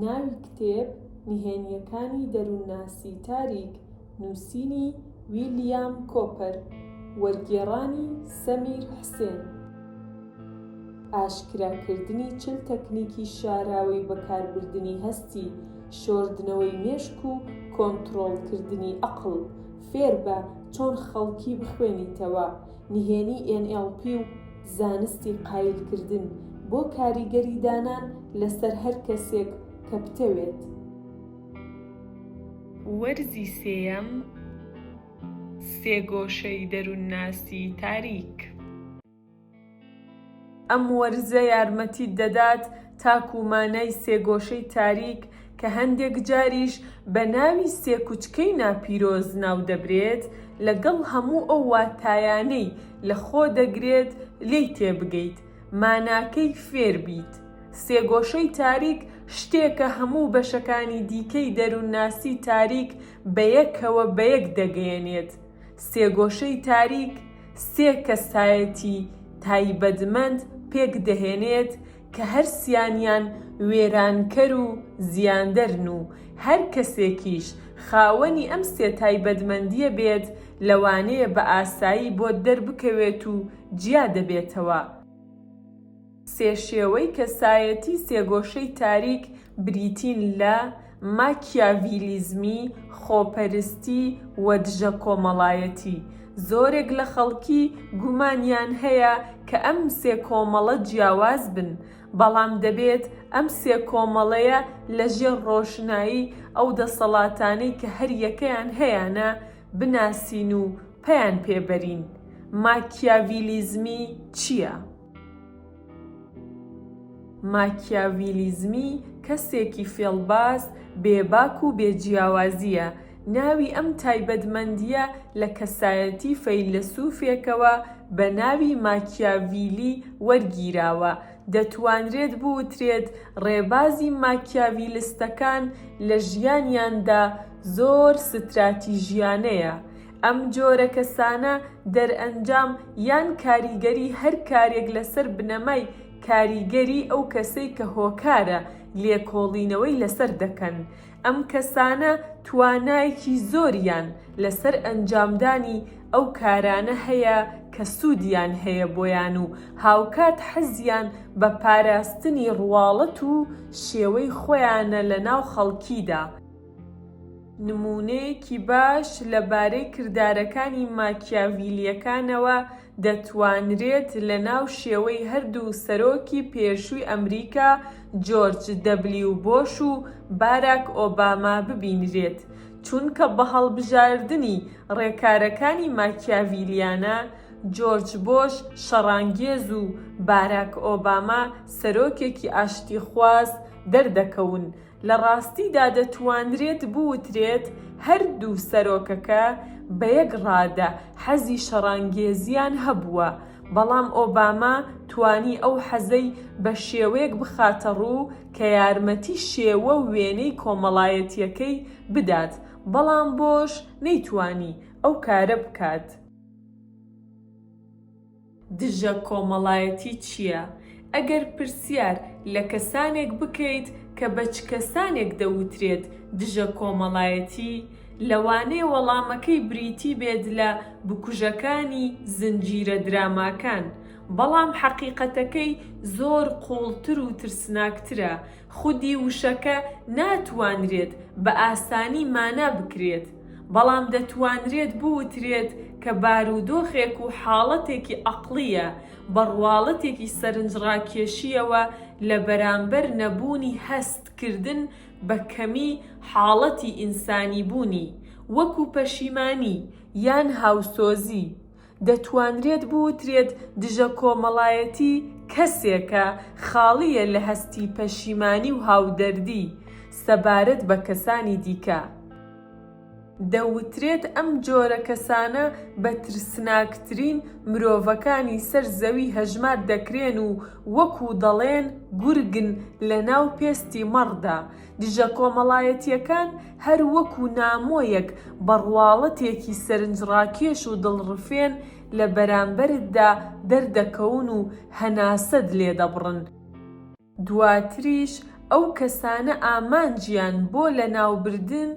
ناوی کتێب، نهێنییەکانی دەروونناسی تاریک، نووسینی ویلیام کۆپەر، وەرگێڕانی سەمیر حسێن. ئاشکراکردنی چل تەکنیکی شاراوەی بەکاربردنی هەستی، شۆردنەوەی مێشک و کۆنتڕۆڵکردنی ئەقڵ. فێربە چۆن خەڵکی بخوێنیتەوە. نهێنی ئێن ئێڵ پی و زانستی قایل کردن بۆ کاریگەری دانان لەسەر هەر کەسێک کە بتەوێت. وەرزی سێیەم، سێگۆشەی دەروونناسی تاریک. ئەم وەرزە یارمەتیت دەدات تاکوو مانای سێگۆشەی تاریک کە هەندێک جاریش بە ناوی سێکوچکەی ناپیرۆز ناو دەبرێت، لەگەڵ هەموو ئەو واتایانەی لە خۆ دەگرێت لێی تێبگەیت، ماناکەی فێر بیت. سێگۆشەی تاریک شتێکە هەموو بەشەکانی دیکەی دەروونناسیی تاریک بە یەکەوە بە یەک دەگەیەنێت، سێگۆشەی تاریک، سێ کەسایەتی تایبەتمەند پێک دەهێنێت کە هەر سیانیان وێرانکەر و زیاندەرن و هەر کەسێکیش خاوەنی ئەم سێ تایبەتمەندیە بێت لەوانەیە بە ئاسایی بۆت دەربکەوێت و جیا دەبێتەوە. سێ شێوەی کەسایەتی سێگۆشەی تاریک بریتین لە، ماکیاڤیلیزمی، خۆپەرستی و دژە کۆمەڵایەتی. زۆرێک لە خەڵکی گومانیان هەیە کە ئەم سێ کۆمەڵە جیاواز بن، بەڵام دەبێت ئەم سێ کۆمەڵەیە لە ژێر ڕۆشنایی ئەو دەسەڵاتانەی کە هەر یەکەیان هەیانە بناسین و پەیان پێ بەرین. ماکیاڤیلیزمی چییە؟ ماکیاویلیزمی کەسێکی فێڵباز بێباک و بێ جیاوازییە، ناوی ئەم تایبەتمەندییە لە کەسایەتی فەیلەسوفێکەوە بە ناوی ماکیاویلی وەرگیراوە، دەتوانرێت بوترێت ڕێبازی ماکیاویلستەکان لە ژیانیاندا زۆر ستراتیژیانەیە، ئەم جۆرە کەسانە دەرئەنجام یان کاریگەری هەر کارێک لەسەر بنەمای کاریگەری ئەو کەسەی کە هۆکارە لێکۆڵینەوەی لەسەر دەکەن. ئەم کەسانە توانایەکی زۆریان لەسەر ئەنجامدانی ئەو کارانە هەیە کە سوودیان هەیە بۆیان و هاوکات حەزیان بە پاراستنی ڕواڵەت و شێوەی خۆیانە لەناو خەڵکیدا. نموونەیەکی باش لەبارەی کردارەکانی ماکیاڤیلییەکانەوە دەتوانرێت لەناو شێوەی هەردوو سەرۆکی پێشووی ئەمریکا جۆرج دەبلیو بۆش و باراک ئۆباما ببینرێت چونکە بە هەڵبژاردنی ڕێکارەکانی ماکیاڤیلیانە جۆرج بۆش شەڕانگێز و باراک ئۆباما سەرۆکێکی ئاشتیخواز دەردەکەون لە ڕاستیدا دەتوانرێت بوترێت هەردوو سەرۆکەکە بە یەک ڕادە حەزی شەڕانگێزییان هەبووە، بەڵام ئۆباما توانی ئەو حەزەی بە شێوەیەک بخاتە ڕوو کە یارمەتی شێوە و وێنەی کۆمەڵایەتییەکەی بدات، بەڵام بۆش نەیتوانی ئەو کارە بکات. دژە کۆمەڵایەتی چییە؟ ئەگەر پرسیار لە کەسانێک بکەیت کە بە چ کەسانێک دەوترێت دژە کۆمەڵایەتی، لەوانەیە وەڵامەکەی بریتی بێت لە بکوژەکانی زنجیرە دراماکان، بەڵام حەقیقەتەکەی زۆر قووڵتر و ترسناکترە، خودی وشەکە ناتوانرێت بە ئاسانی مانا بکرێت، بەڵام دەتوانرێت بوترێت کە بارودۆخێک و حاڵەتێکی عەقڵییە، بە ڕواڵەتێکی سەرنجڕاکێشییەوە لە بەرامبەر نەبوونی هەست کردن بە کەمی حاڵەتی ئینسانیبوونی، وەکو پەشیمانی، یان هاوسۆزی، دەتوانرێت بوترێت دژە کۆمەڵایەتی کەسێکە خاڵییە لە هەستی پەشیمانی و هاودەردی سەبارەت بە کەسانی دیکە. دەوترێت ئەم جۆرە کەسانە بە ترسناکترین مرۆڤەکانی سەر زەوی هەژمار دەکرێن و وەکو دەڵێن گورگن لەناو پێستی مەڕدا، دژە کۆمەڵایەتیەکان هەر وەکو نامۆیەک بە ڕواڵەتێکی سەرنجڕاکێش و دڵڕفێن لە بەرامبەرتدا دەردەکەون و هەناسەت لێدەبڕن. دواتریش ئەو کەسانە ئامانجیان بۆ لەناوبردن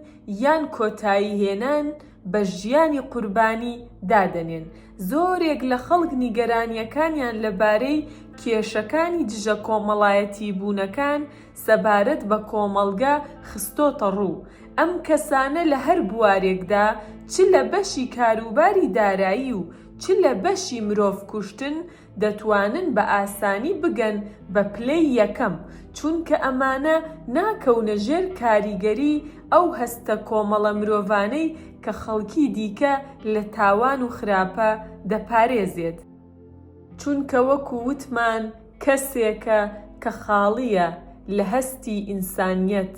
یان کۆتایی هێنان بە ژیانی قوربانی دادەنێن. زۆرێک لە خەڵک نیگەرانیەکانیان لەبارەی کێشەکانی دژە کۆمەڵایەتیبوونەکان سەبارەت بە کۆمەڵگە خستۆتەڕوو، ئەم کەسانە لە هەر بوارێکدا چ لە بەشی کاروباری دارایی و چ لە بەشی مرۆڤ کوشتن دەتوانن بە ئاسانی بگەن بە پلەی یەکەم، چونکە ئەمانە ناکەونە ژێر کاریگەری ئەو هەستە کۆمەڵە مرۆڤانەی کە خەڵکی دیکە لە تاوان و خراپە دەپارێزێت. چونکە وەکو وتمان کەسێکە کە خاڵیە لە هەستی ئینسانیەت،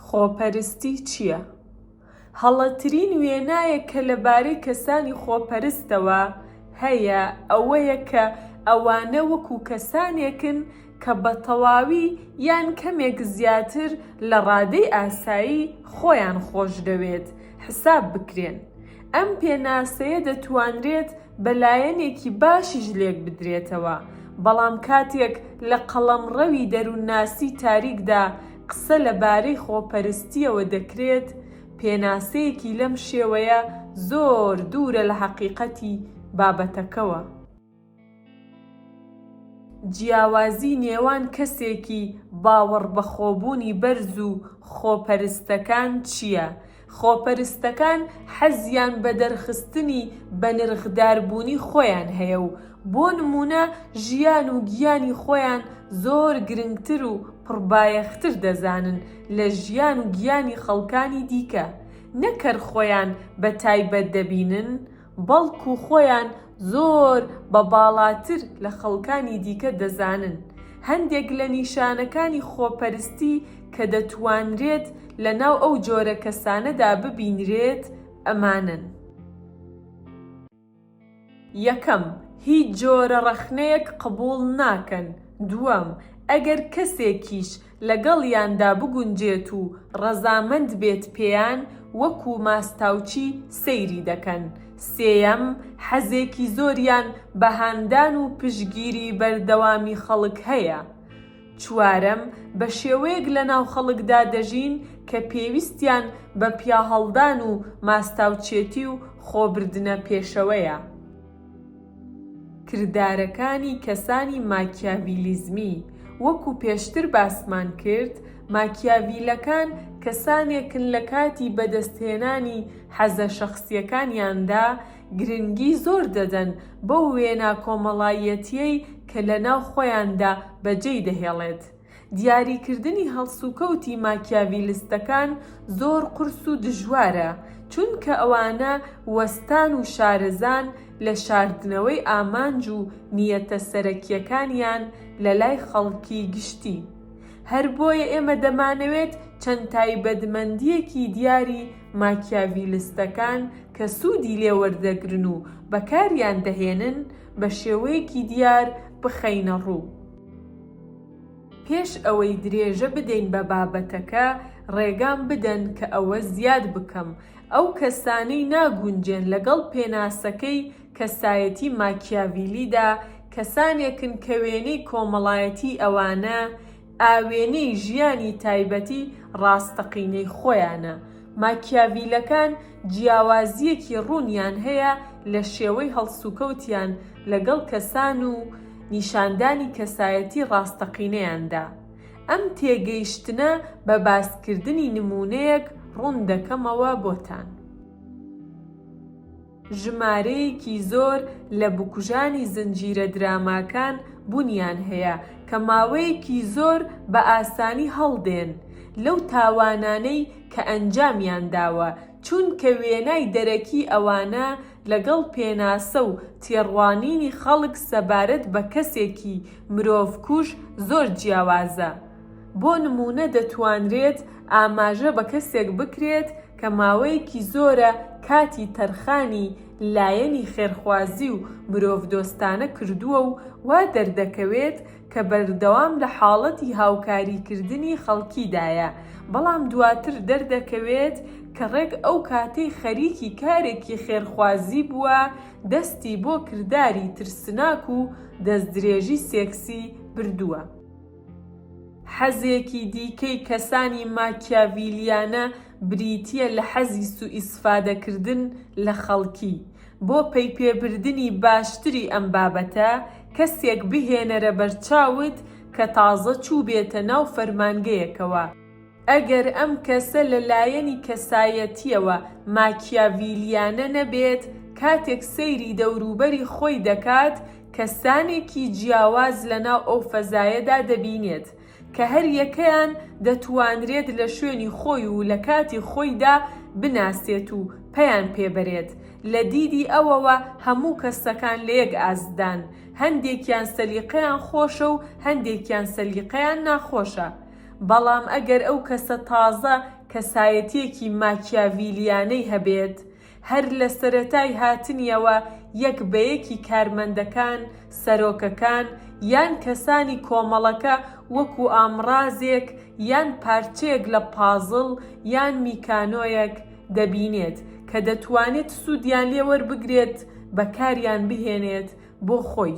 خۆپەرستی چیە؟ هەڵەترین وێنایەک کە لەبارەی کەسانی خۆپەرستەوە هەیە ئەوەیە کە ئەوانە وەکو کەسانێکن کە بە تەواوی یان کەمێک زیاتر لە ڕادەی ئاسایی خۆیان خۆشدەوێت حساب بکرێن، ئەم پێناسەیە دەتوانرێت بە لایەنێکی باشیش لێک بدرێتەوە، بەڵام کاتێک لە قەڵەمڕەوی دەروونناسیی تاریکدا قسە لە بارەی خۆپەرستییەوە دەکرێت، پێناسەیەکی لەم شێوەیە زۆر دوورە لە هەقیقەتی بابەتەکەوە. جیاوازی نێوان کەسێکی باوەڕبەخۆبوونی بەرز و خۆپەرستەکان چییە؟ خۆپەرستەکان حەزیان بە دەرخستنی بەنرخداربوونی خۆیان هەیە و بۆ نموونە ژیان و گیانی خۆیان زۆر گرنگتر و پڕبایەختر دەزانن لە ژیان و گیانی خەڵکانی دیکە، نەک هەر خۆیان بە تایبەت دەبینن، بەڵکو خۆیان زۆر بە باڵاتر لە خەڵکانی دیکە دەزانن. هەندێک لە نیشانەکانی خۆپەرستی کە دەتوانرێت لەناو ئەو جۆرە کەسانەدا ببینرێت ئەمانەن. یەکەم، هیچ جۆرە ڕەخنەیەک قبوڵ ناکەن، دووەم، ئەگەر کەسێکیش لەگەڵیاندا بگونجێت و ڕەزامەند بێت پێیان وەکو ماستاوچی سەیری دەکەن، سێیەم، حەزێکی زۆریان بە هاندان و پشتگیری بەردەوامی خەڵک هەیە، چوارەم، بە شێوەیەک لەناو خەڵکدا دەژین کە پێویستیان بە پیاهەڵدان و ماستاوچێتی و خۆبردنە پێشەوەیە. کردارەکانی کەسانی ماکیاڤیلیزمی، وەکو پێشتر باسمان کرد، ماکیاڤیلەکان کەسانێکن لە کاتی بەدەستهێنانی حەزە شەخسییەکانیاندا گرنگی زۆر دەدەن بەو وێنا کۆمەڵایەتییەی کە لەناو خۆیاندا بەجێی دەهێڵێت، دیاریکردنی هەڵسوکەوتی ماکیاڤیلستەکان زۆر قورس و دژوارە، چونکە ئەوانە وەستان و شارەزان لە شاردنەوەی ئامانج و نیەتە سەرەکییەکانیان لە لای خەڵکی گشتی. هەر بۆیە ئێمە دەمانەوێت چەند تایبەتمەندییەکی دیاری ماکیاڤیلستەکان کە سوودی لێ وەردەگرن و بەکاریان دەهێنن، بە شێوەیەکی دیار بخەینە ڕوو. پێش ئەوەی درێژە بدەین بە بابەتەکە، ڕێگام بدەن کە ئەوە زیاد بکەم، ئەو کەسانەی ناگونجێن لەگەڵ پێناسەکەی کەسایەتی ماکیاڤیلیدا، کەسانێکن کە وێنەی کۆمەڵایەتیی ئەوانە، ئاوێنەی ژیانی تایبەتی ڕاستەقینەی خۆیانە. ماکیاڤیلەکان جیاوازییەکی ڕوونیان هەیە لە شێوەی هەڵسوکەوتیان لەگەڵ کەسان و نیشاندانی کەسایەتی ڕاستەقینەیاندا. ئەم تێگەیشتنە بە باسکردنی نموونەیەک ڕوون دەکەمەوە بۆتان. ژمارەیەکی زۆر لە بکوژانی زنجیرە دراماکان بوونیان هەیە کە ماوەیەکی زۆر بە ئاسانی هەڵدێن لەو تاوانانەی کە ئەنجامیان داوە، چونکە وێنای دەرەکی ئەوانە لەگەڵ پێناسە و تێڕوانینی خەڵک سەبارەت بە کەسێکی مرۆڤکوژ زۆر جیاوازە. بۆ نموونە دەتوانرێت ئاماژە بە کەسێک بکرێت کە ماوەیەکی زۆرە کاتی تەرخانی لایەنی خێرخوازی و مرۆڤدۆستانە کردووە و وا دەردەکەوێت کە بەردەوام لە حاڵەتی هاوکاریکردنی خەڵکیدایە، بەڵام دواتر دەردەکەوێت کە ڕێک ئەو کاتەی خەریکی کارێکی خێرخوازی بووە، دەستی بۆ کرداری ترسناک و دەستدرێژی سێکسی بردووە. حەزێکی دیکەی کەسانی ماکیاڤیلیانە بریتیە لە حەزی سوئیسفادەکردن لە خەڵکی. بۆ پەیپێبردنی باشتری ئەم بابەتە، کەسێک بهێنەرە بەرچاوت کە تازە چووبێتە ناو فەرمانگەیەکەوە. ئەگەر ئەم کەسە لە لایەنی کەسایەتیەوە ماکیاڤیلیانە نەبێت، کاتێک سەیری دەوروبەری خۆی دەکات، کەسانێکی جیاواز لە ناو ئەو فەزایەدا دەبینێت، کە هەر یەکەیان دەتوانرێت لە شوێنی خۆی و لە کاتی خۆیدا بناسێت و پەیان پێ بەرێت، لە دیدی ئەوەوە هەموو کەستەکان لە یەک ئاستدان، هەندێکیان سەلیقەیان خۆشە و هەندێکیان سەلیقەیان ناخۆشە. بەڵام ئەگەر ئەو کەسە تازە کەسایەتییەکی ماکیاڤیلییانەی هەبێت، هەر لە سەرەتای هاتنیەوە یەک بە یەکی کارمەندەکان، سەرۆکەکان، یان کەسانی کۆمەڵەکە وەکو ئامڕازێک یان پارچەیەک لە پازڵ یان میکانۆیەک دەبینێت کە دەتوانێت سوودیان لێ وەربگرێت بەکاریان بهێنێت بۆ خۆی.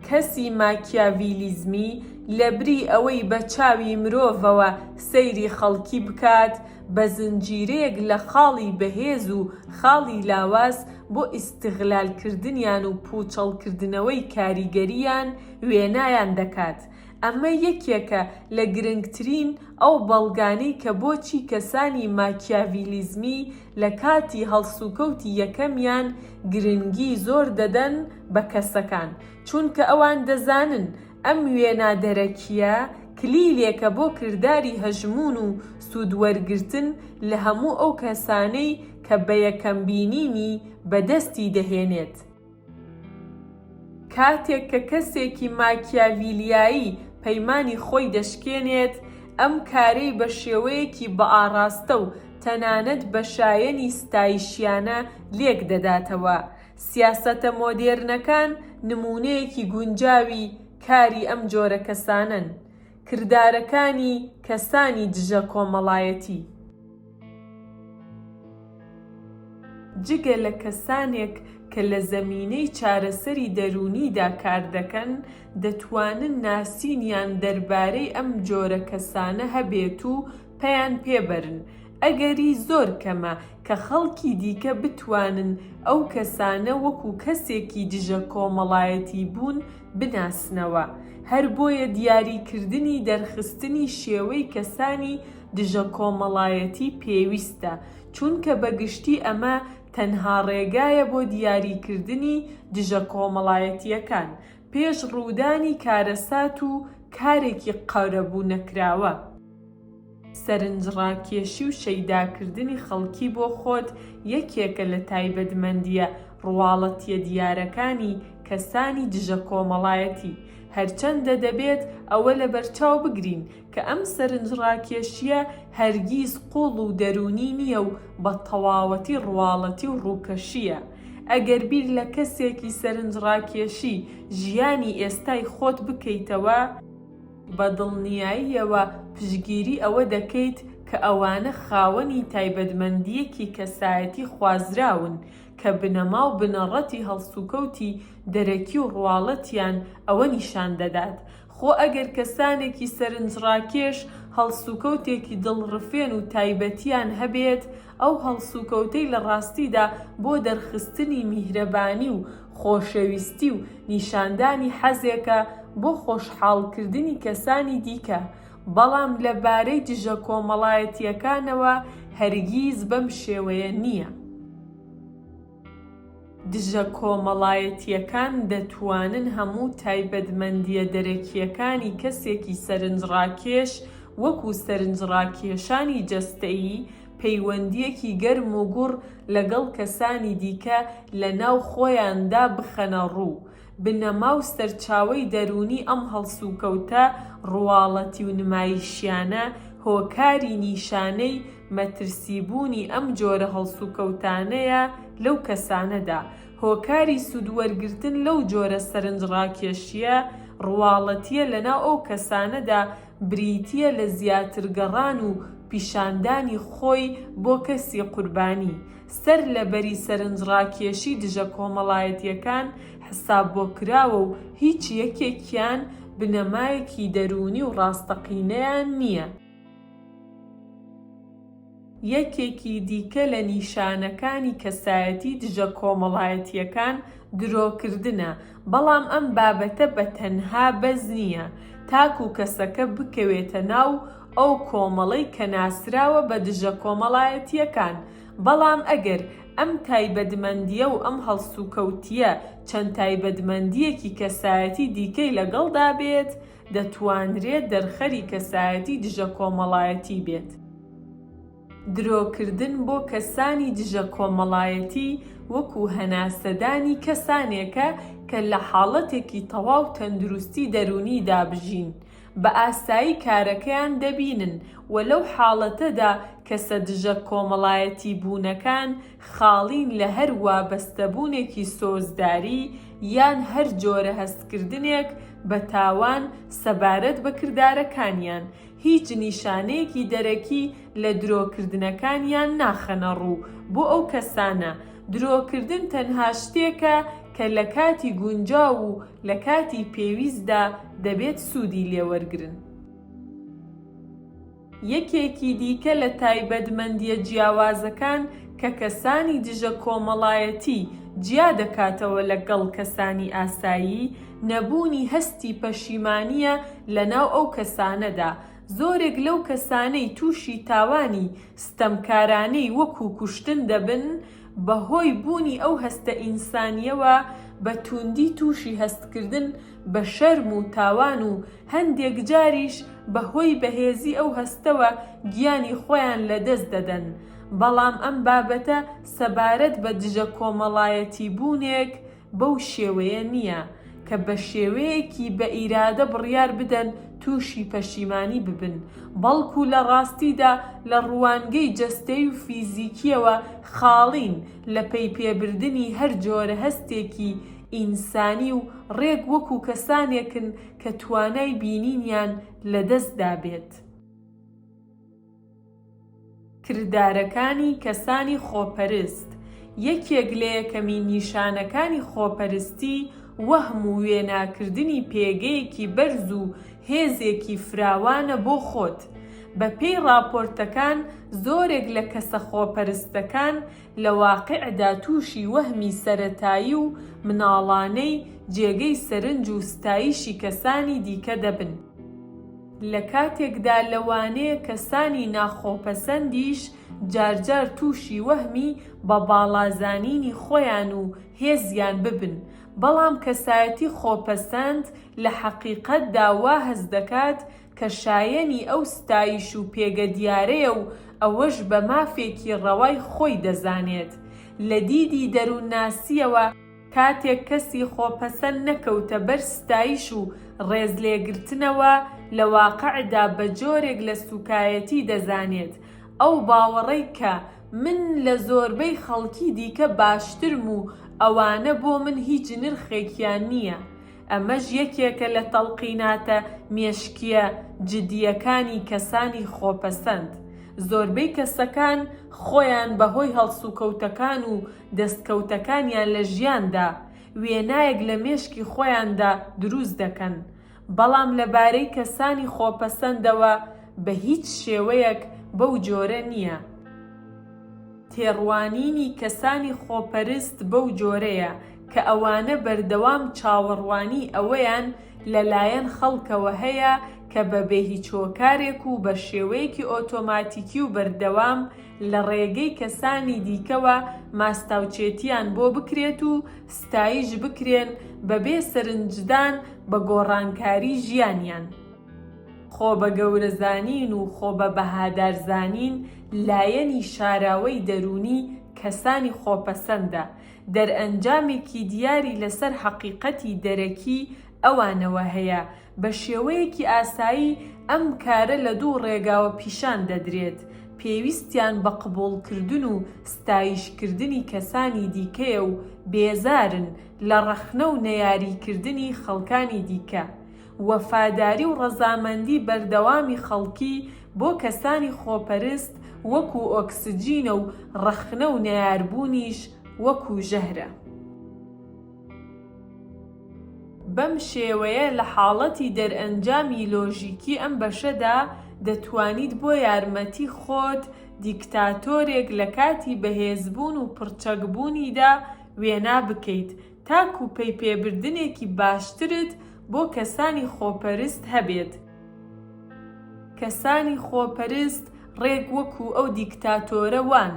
کەسی ماکیاڤیلیزمی لەبری ئەوەی بە چاوی مرۆڤەوە سەیری خەڵکی بکات، بە زنجیرەیەک لە خاڵی بەهێز و خاڵی لاواز بۆ ئیستغلالکردنیان و پووچەڵکردنەوەی کاریگەرییان، وێنایان دەکات. ئەمە یەکێکە لە گرنگترین ئەو بەڵگانەی کە بۆچی کەسانی ماکیاڤیلیزمی لە کاتی هەڵسوکەوتی یەکەمیان گرنگی زۆر دەدەن بە کەسەکان، چونکە ئەوان دەزانن ئەم وێنا دەرەکییە کلیلێکە بۆ کرداری هەژموون و سوودوەرگرتن لە هەموو ئەو کەسانەی کە بەیەکەم بینینی بەدەستی دەهێنێت. کاتێک کە کەسێکی ماکیاڤیلیایی پەیمانی خۆی دەشکێنێت، ئەم کارەی بە شێوەیەکی بەئاڕاستە و تەنانەت بە شایەنی ستایشیانە لێک دەداتەوە. سیاسەتە مۆدێرنەکان نموونەیەکی گونجاوی کاری ئەم جۆرە کەسانەن، کردارەکانی کەسانی دژە کۆمەڵایەتی. جگە لە کەسانێک کە لە زەمینەی چارەسەری دەروونیدا کار دەکەن، دەتوانن ناسینیان دەربارەی ئەم جۆرە کەسانە هەبێت و پەیان پێ بەرن. ئەگەری زۆر کەمە کە خەڵکی دیکە بتوانن ئەو کەسانە وەکوو کەسێکی دژە کۆمەڵایەتیبوون بناسنەوە، هەر بۆیە دیاریکردنی دەرخستنی شێوەی کەسانی دژە کۆمەڵایەتی پێویستە، چونکە بە گشتی ئەمە تەنها ڕێگایە بۆ دیاریکردنی دژە کۆمەڵایەتییەکان پێش ڕوودانی کارەسات و کارێکی قەرەبوو نەکراوە. سەرنجڕاکێشی و شەیداکردنی خەڵکی بۆ خۆت یەکێکە لە تایبەتمەندییە ڕواڵەتییە دیارەکانی کەسانی دژە کۆمەڵایەتی، هەرچەندە دەبێت ئەوە لەبەرچاو بگرین کە ئەم سەرنجڕاکێشییە هەرگیز قووڵ و دەروونی نییە و بە تەواوەتی ڕواڵەتی و ڕووکەشییە. ئەگەر بیر لە کەسێکی سەرنجڕاکێشی ژیانی ئێستای خۆت بکەیتەوە، بە دڵنیاییەوە پشتگیری ئەوە دەکەیت کە ئەوانە خاوەنی تایبەتمەندییەکی کەسایەتی خوازراون کە بنەما و بنەڕەتی هەڵسوکەوتی دەرەکی و ڕواڵەتیان ئەوە نیشان دەدات خۆ ئەگەر کەسانێکی سەرنجڕاکێش هەڵسوکەوتێکی دڵڕفێن و تایبەتیان هەبێت، ئەو هەڵسوکەوتەی لە ڕاستیدا بۆ دەرخستنی میهرەبانی و خۆشەویستی و نیشاندانی حەزێکە بۆ خۆشحاڵکردنی کەسانی دیکە، بەڵام لە بارەی دژە کۆمەڵایەتییەکانەوە هەرگیز بەم شێوەیە نییە. دژە کۆمەڵایەتییەکان دەتوانن هەموو تایبەتمەندییە دەرەکییەکانی کەسێکی سەرنجڕاکێش وەکوو سەرنجڕاکێشانی جەستەیی، پەیوەندییەکی گەرم و گوڕ لەگەڵ کەسانی دیکە لە ناو خۆیاندا بخەنە ڕوو، بنەما و سەرچاوەی دەروونی ئەم هەڵسوکەوتە ڕواڵەتی و نمایشیانە هۆکاری نیشانەی مەترسیبوونی ئەم جۆرە هەڵسوکەوتانەیە لەو کەسانەدا، هۆکاری سوودوەرگرتن لەو جۆرە سەرنجڕاکێشییە ڕواڵەتییە لەناو ئەو کەسانەدا بریتییە لە زیاتر گەڕان و پیشاندانی خۆی بۆ کەسی قوربانی، سەرلەبەری سەرنجڕاکێشی دژە کۆمەڵایەتییەکان حساببۆکراوە و هیچ یەکێکیان بنەمایەکی دەروونی و ڕاستەقینەیان نییە. یەکێکی دیکە لە نیشانەکانی کەسایەتی دژە کۆمەڵایەتییەکان درۆکردنە، بەڵام ئەم بابەتە بە تەنها بەس نییە تاکو کەسەکە بکەوێتە ناو ئەو کۆمەڵەی کە ناسراوە بە دژە کۆمەڵایەتییەکان، بەڵام ئەگەر ئەم تایبەتمەندییە و ئەم هەڵسوکەوتییە چەند تایبەتمەندییەکی کەسایەتی دیکەی لەگەڵدا بێت، دەتوانرێت دەرخەری کەسایەتی دژە کۆمەڵایەتی بێت. درۆکردن بۆ کەسانی دژە کۆمەڵایەتی وەکو هەناسەدانی کەسانێکە کە لە حاڵەتێکی تەواو تەندروستی دەروونیدا بژین، بە ئاسایی کارەکەیان دەبینن و لەو حاڵەتەدا کەسە دژە کۆمەڵایەتی بوونەکان خاڵین لە هەر وابەستەبوونێکی سۆزداری یان هەر جۆرە هەستکردنێک بە تاوان سەبارەت بە کردارەکانیان، هیچ نیشانەیەکی دەرەکی لە درۆکردنەکانیان ناخەنە ڕوو بۆ ئەو کەسانە، درۆکردن تەنها شتێکە کە لە کاتی گونجاو و لە کاتی پێویستدا دەبێت سوودی لێوەرگرن. یەکێکی دیکە لە تایبەتمەندییە جیاوازەکان کە کەسانی دژە کۆمەڵایەتی جیا دەکاتەوە لەگەڵ کەسانی ئاسایی، نەبوونی هەستی پەشیمانییە لەناو ئەو کەسانەدا، زۆرێک لەو کەسانەی تووشی تاوانی ستەمکارانەی وەکوو کوشتن دەبن، بەهۆی بوونی ئەو هەستە ئینسانییەوە بە تووندی تووشی هەستکردن بە شەرم و تاوان و هەندێک جاریش بە هۆی بەهێزی ئەو هەستەوە گیانی خۆیان لە دەست دەدەن، بەڵام ئەم بابەتە سەبارەت بە دژە کۆمەڵایەتی بوونێک بەو شێوەیە نییە کە بە شێوەیەکی بە ئیرادە بڕیار بدەن تووشی پەشیمانی ببن، بەڵکوو لە ڕاستیدا لە ڕوانگەی جەستەی و فیزیکییەوە خاڵین لە پەیپێبردنی هەر جۆرە هەستێکی ئینسانی و ڕێک وەکو کەسانێکن کە توانای بینینیان لە دەست دابێت. کردارەکانی کەسانی خۆپەرست، یەکێک لە یەکەمین نیشانەکانی خۆپەرستی وەهم و وێناکردنی پێگەیەکی بەرز و هێزێکی فراوانە بۆ خۆت. بە پێی ڕاپۆرتەکان زۆرێک لە کەسە خۆپەرستەکان، لە واقیعدا تووشی وەهمی سەرەتایی و مناڵانەی جێگەی سەرنج و ستایشی کەسانی دیکە دەبن، لە کاتێکدا لەوانەیە کەسانی ناخۆپەسەندیش جارجار تووشی وەهمی بە باڵا زانینی خۆیان و هێزیان ببن، بەڵام کەسایەتی خۆپەسەند لە حەقیقەتدا وا هەست دەکات کە شایەنی ئەو ستایش و پێگە دیارەیە و ئەوەش بە مافێکی ڕەوای خۆی دەزانێت. لە دیدی دەروونناسییەوە کاتێک کەسی خۆپەسەند نەکەوتە بەر ستایش و ڕێزلێگرتنەوە، لە واقعدا بە جۆرێک لە سووکایەتی دەزانێت، ئەو باوەڕەی کە من لە زۆربەی خەڵکی دیکە باشترم و ئەوانە بۆ من هیچ نرخێکیان نییە. ئەمەش یەکێکە لە تەڵقیناتە مێشکییە جدییەکانی کەسانی خۆپەسەند، زۆربەی کەسەکان خۆیان بەهۆی هەڵسوکەوتەکان و دەستکەوتەکانیان لە ژیاندا، وێنایەک لە مێشکی خۆیاندا دروست دەکەن، بەڵام لەبارەی کەسانی خۆپەسەندەوە بە هیچ شێوەیەک بەو جۆرە نییە. تێڕوانینی کەسانی خۆپەرست بەو جۆرەیە کە ئەوانە بەردەوام چاوەڕوانیی ئەوەیان لە لایەن خەڵکەوە هەیە کە بە بێ هیچ هۆکارێک و بە شێوەیەکی ئۆتۆماتیکی و بەردەوام لە ڕێگەی کەسانی دیکەوە ماستاوچێتییان بۆ بکرێت و ستایش بکرێن بە بێ سەرنجدان بە گۆڕانکاریی ژیانیان. خۆبەگەورەزانین و خۆبەبەهادارزانین لایەنی شاراوەی دەروونی کەسانی خۆپەسەندە، دەرئەنجامێکی دیاری لەسەر هەقیقەتی دەرەکی ئەوانەوە هەیە، بە شێوەیەکی ئاسایی ئەم کارە لە دوو ڕێگاوە پیشان دەدرێت، پێویستیان بە قبوڵکردن و ستایشکردنی کەسانی دیکەیە و بێزارن لە ڕەخنە و نەیاریکردنی خەڵکانی دیکە، وەفاداری و ڕەزامەندی بەردەوامی خەڵکی بۆ کەسانی خۆپەرست وەکو ئۆکسجینە و ڕەخنە و نەیاربوونیش وەکو ژەهرە. بەم شێوەیە لە حاڵەتی دەرئەنجامی لۆژیکی ئەم بەشەدا دەتوانیت بۆ یارمەتی خۆت دیکتاتۆرێک لە کاتی بەهێزبوون و پڕچەکبوونیدا وێنا بکەیت تاکو پەیپێبردنێکی باشترت بۆ کەسانی خۆپەرست هەبێت. کەسانی خۆپەرست ڕێک وەکو ئەو دیکتاتۆرە وان،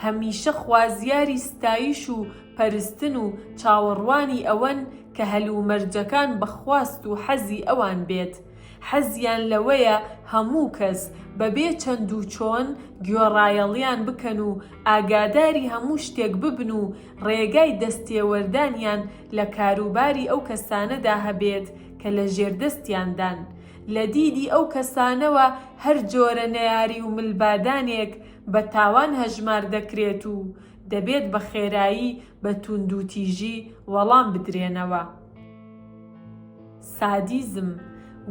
هەمیشە خوازیاری ستایش و پەرستن و چاوەڕوانی ئەوەن کە هەلومەرجەکان بە خواست و حەزی ئەوان بێت. حەزیان لەوەیە هەموو کەس، بەبێ چەند و چۆن، گوێڕایەڵیان بکەن و ئاگاداری هەموو شتێک ببن و ڕێگای دەستێوەردانیان لە کاروباری ئەو کەسانەدا هەبێت کە لە ژێردەستیاندان، لە دیدی ئەو کەسانەوە هەر جۆرە نەیاری و ملبادانێک بە تاوان هەژمار دەکرێت و دەبێت بە خێرایی بە توندوتیژی وەڵام بدرێنەوە. سادیزم،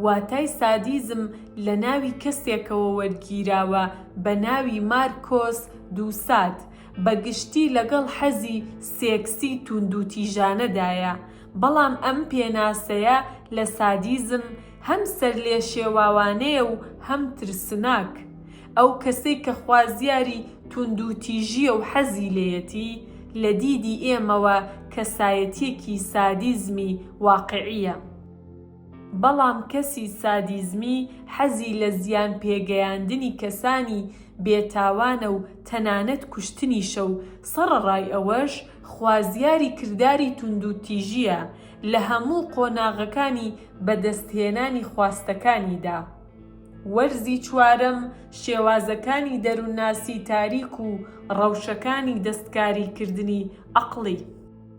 واتای سادیزم لە ناوی کەسێکەوە وەرگیراوە بە ناوی مارکۆس دوساد، بە گشتی لەگەڵ حەزی سێکسی توندوتیژانەدایە، بەڵام ئەم پێناسەیە لە سادیزم هەم سەرلێشێواوانەیە و هەم ترسناک. ئەو کەسەی کە خوازیاری توندوتیژییە و حەزی لێیەتی، لە دیدی ئێمەوە کەسایەتییەکی سادیزمی واقیعییە. بەڵام کەسی سادیزمی حەزی لە زیان پێگەیاندنی کەسانی بێ تاوانە و تەنانەت کوشتنیشە و سەڕەڕای ئەوەش خوازیاری کرداری توندوتیژییە لە هەموو قۆناغەکانی بەدەستهێنانی خواستەکانیدا. وەرزی چوارەم شێوازەکانی دەروونناسی تاریک و ڕەوشەکانی دەستکاریکردنی عەقڵی.